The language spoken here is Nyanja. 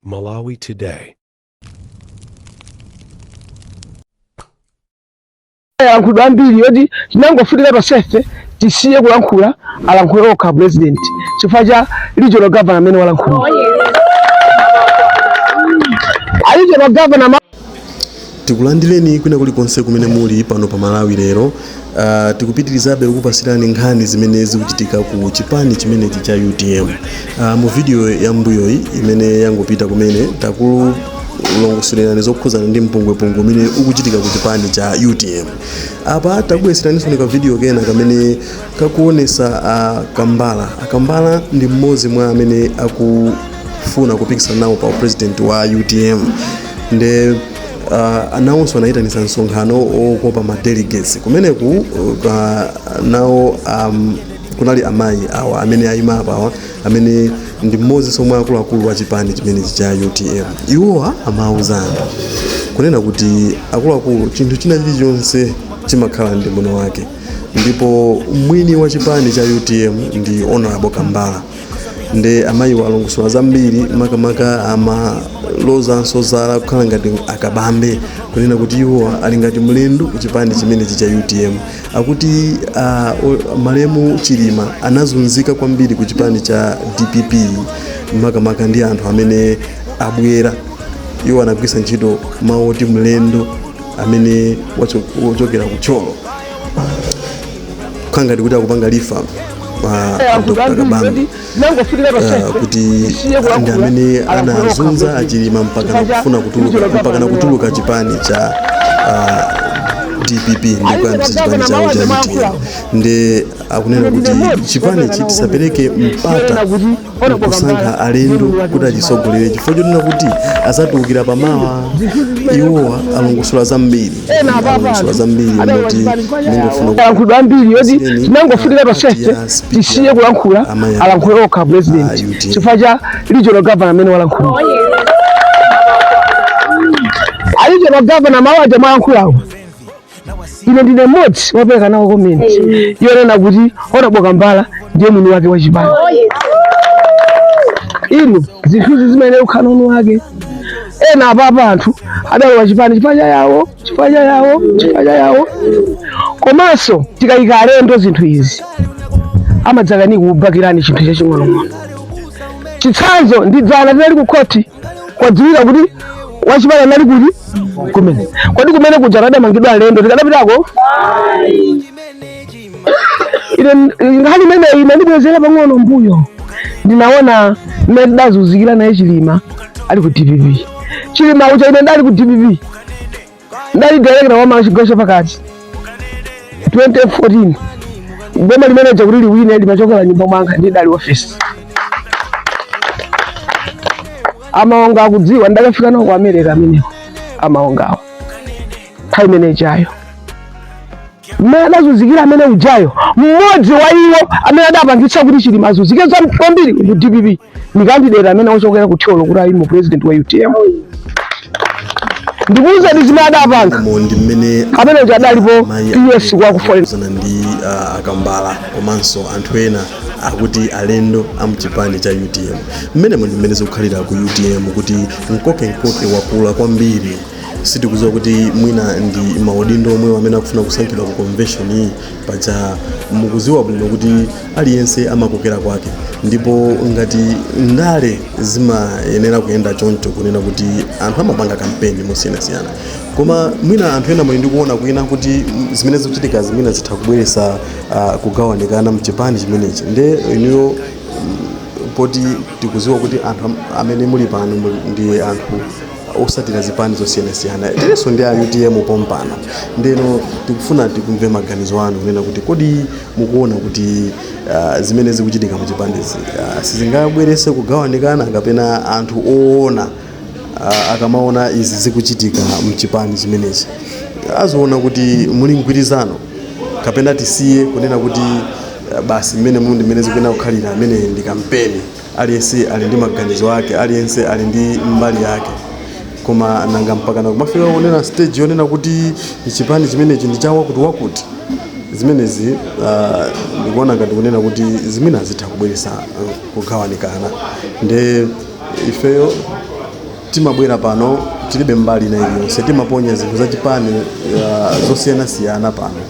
Malawi Today. yalankhulidwa ambiri yoti tinangofunika tonsefe tisiye kulankhula alankhule okha president chifukwa cha regional governor amene walankhulira a regional governor ma- Tikulandileni kwina kulikonse kumene muli pano pa Malawi lero. Uh, tikupitilizabe kukupasilani nkhani zimene zikuchitika ku chipani chimenechi cha UTM. Uh, ah, mu video ya mbuyoyi imene yangopita kumene takulongosolerani zokhuzana ndi mpungwepungwe umene ukuchitika ku chipani cha UTM. Apa takubweseraniso ka video kena kamene kakuonesa a kambala akambala ndi mmodzi mwa amene akufuna kupikisana nawo pa upresident wa utm nde uh, anawonso anayitanisa msonkhano okopa ma delegates kumeneku uh, nawo um, kunali amayi awa amene ayima apawa amene ndi mmodzinso mwa akuluakulu wa chipani chimenechi cha utm iwowa amawuza anthu kunena kuti akuluakulu chinthu china chilichonse chimakhala ndi mwini wake ndipo mwini wa chipani cha utm ndi honorable kambala nde amayiwa alongosola zambiri makamaka amalozanso zala kukhala ngati a Kabambe kunena kuti iwo ali ngati mlendo ku chipani chimenechi cha utm akuti uh, o- malemu chilima anazunzika kwambiri ku chipani cha dpp makamaka ndi anthu amene abwera iwo anagwisa ntchito mawu oti mlendo amene wacho- wochokera ku Thyolo kukhala ngati kuti akupanga refer dr kabambe Ah, kuti ndi amene anazunza achilima mpakana kufuna kutuluka mpakana kutuluka chipani cha ah, dpp ndikuyambisa chipani chawo cha utm nde akunena kuti chipanichi tisapereke mpata kusankha alendo kuti achisogolere chifukwa chonena kuti azatiukira pamawa iwowa alongosola zambiri alongosola zambiri moti ndingofuna alankhulidwe ambiri yoti tinangofunika tonsefe tisiye kulankhula alankhule okha president chifukwa cha regional governor amene walankhula a regional governor mawu aja mwalankhulawo ine ndine mmodzi wapereka nawo comment yonena kuti honorable kambala ndiye mwini wake wa chipani inu zinthuzi zimayenera kukhala mwini wake ena apapa anthu adalowa chipani chipacha yawo chipacha yawo chipacha yawo komanso tikayika alendo zinthu izi amadzakani kubakirani chinthu chaching'onong'ono chitsanzo ndi dzana tinali ku khoti kwadziwika kuti wachipani anali kuti kumene khothi kumene kuja adamangidwa alendo tikadapitako ine nkhani imeneyi inandibwezera pang'ono mbuyo ndinaona mmene tidazunzikira naye chilima ali ku dpp chilima ucha ine ndali ku dpp ndali director wa amayi Chigawo Chapakati 2014 boma limene lija kuti liwine limachokera mnyumba mwanga ndi idali office a Maonga akudziwa ndakafika nawo ku america amenewo a Maongawo nthawi imene ijayo mmene adazunzikira amene ujayo mmodzi wa iwo amene adapangitsa kuti chilima azunzike kwambiri ku dpp ndi kandidate amene wochokera ku thyolo kuti ayime president wa utm ndikuwuzeni zimene adapanga ndi mmene amene uja adalipo ps kwa ku foreign zana ndi ah, a kambala komanso anthu ena akuti alendo amchipani cha utm mmenemo ndi mmene zikukhalira ku utm kuti mkoke mkoke wakula kwambiri sitikuziwa kuti mwina ndi maudindo omwewo amene akufuna kusankhidwa ku convention iyi paja mukuziwa bwino kuti aliyense amakokera kwake ndipo ngati ndale zimayenera kuyenda choncho kunena kuti anthu amapanga kampeni mosiyanasiyana koma mwina anthu ena monga ndikuona kunena kuti mm, zimene zikuchitikazi mwina zitha kubweresa uh, kugawanikana mchipani chimenechi nde ineyo poti tikuziwa kuti anthu am- amene muli pano muli- ndi anthu osatira zipani zosiyanasiyana tilinso ndi a utm pompano ndeno tikufuna tikumve maganizo anu kunena kuti kodi mukuona kuti uh, zimene zikuchitika muzipanizi uh, sizingabwerese kugawanikana kapena anthu oona uh, akamaona izi zikuchitika mchipani chimenechi aziona kuti muli mgwirizano kapena tisiye kunena kuti uh, basi mmene muli ndi mmene zikuyenera kukhalira imene ndi kampeni Aliyense ali ndi maganizo ake, aliyense ali ndi mbali yake, koma nanga mpakana kumafika pena stage yonena kuti chipani chimenechi ndi chawakuti wakuti zimenezi ah, ndikuona ngati kunena kuti mwina zitha kubweresa ah, kugawanikana nde ifeyo timabwera pano tilibe mbali ina iliyonse timaponya zinthu zachipani ah, zosiyanasiyana pano